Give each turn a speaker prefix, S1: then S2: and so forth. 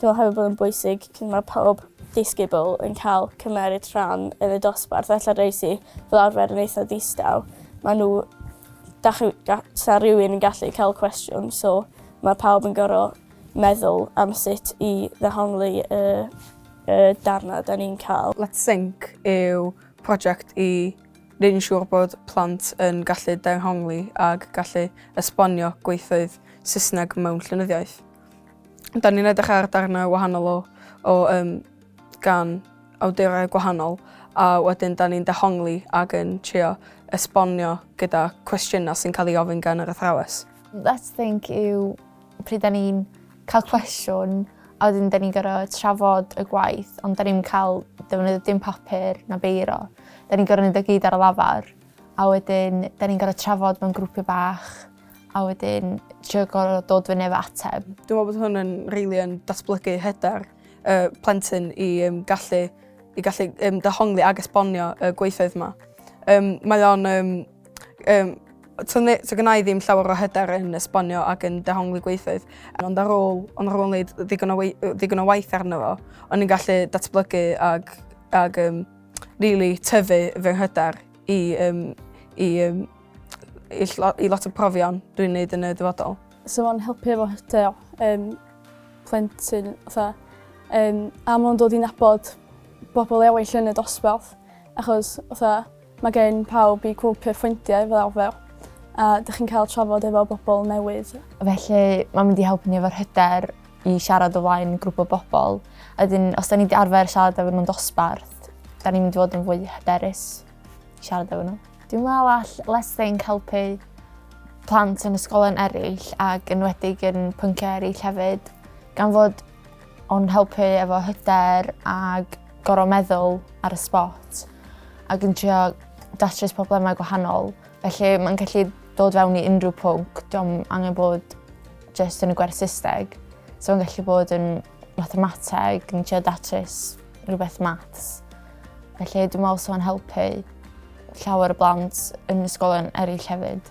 S1: Dwi'n meddwl hefyd bod yn bwysig cyn mae pawb disgybl yn cael cymeryd rhan yn y dosbarth ella rei sy fel arfer yn eitha distaw ma' nhw da chi da- sa rywun yn gallu cael cwestiwn so ma' pawb yn gor'o' meddwl am sut i ddehongli y y darna 'da ni'n ca'l. Let's Sink
S2: yw project i Rydyn ni'n siŵr bod plant yn gallu dehongli ac gallu esbonio gweithfeydd Saesneg mewn llenyddiaeth. Da ni'n edrych ar darnau wahanol o, o um, gan awdurau gwahanol a wedyn da ni'n dehongli ac yn trio esbonio gyda cwestiynau sy'n cael ei ofyn gan yr athrawes. Let's Think
S3: yw pryd da ni'n cael cwestiwn a wedyn da ni'n gorfod trafod y gwaith ond da ni'n cael defnyddio dim papur na beiro. Da ni'n gorfod neud o gyd ar y lafar a wedyn da ni'n gorfod trafod mewn grwpiau bach a wedyn trio gorfod dod fyny efo ateb. Dwi'n meddwl bod hwn yn
S2: rili yn datblygu hyder y plentyn i um, gallu i gallu um, dehongli ag esbonio y gweithfeydd yma. Um, mae o'n um, Yym to ne- to gynna i ddim llawer o hyder yn esbonio ac yn dehongli gweithfeydd ond ar ôl ond ar ôl wneud ddigon o wei- yy ddigon o waith arno fo o'n i'n gallu datblygu ag ag yym rili tyfu fy nghyder i yym i yym i ll- i lot o profion dwi'n neud yn y dyfodol. Sa fo'n helpu efo
S1: hyder yym plentyn fatha yym a ma' o'n dod i nabod bobol ewyll yn y dosbarth achos fatha Mae gen pawb eu cwp eu ffrindiau fel arfer a dych chi'n cael trafod efo bobl newydd. Felly mae'n
S3: mynd i helpu ni efo'r hyder i siarad o flaen grŵp o bobl. A wedyn os 'da ni 'di arfer siarad efo nhw'n dosbarth 'da ni'n mynd i fod yn fwy hyderus i siarad efo nhw. Dwi'n meddwl all Let's Think helpu plant yn ysgolion eraill ac yn enwedig yn pynciau eraill hefyd gan fod O'n helpu efo hyder ag gorau meddwl ar y spot ac yn trio datrys problemau gwahanol. Felly mae'n gallu dod fewn i unrhyw pwnc, diolch angen bod jyst yn y gwerth systeg. So mae'n gallu bod yn mathemateg, yn trio datrys rhywbeth maths. Felly dwi'n meddwl sy'n helpu llawer y blant yn ysgolion eraill hefyd.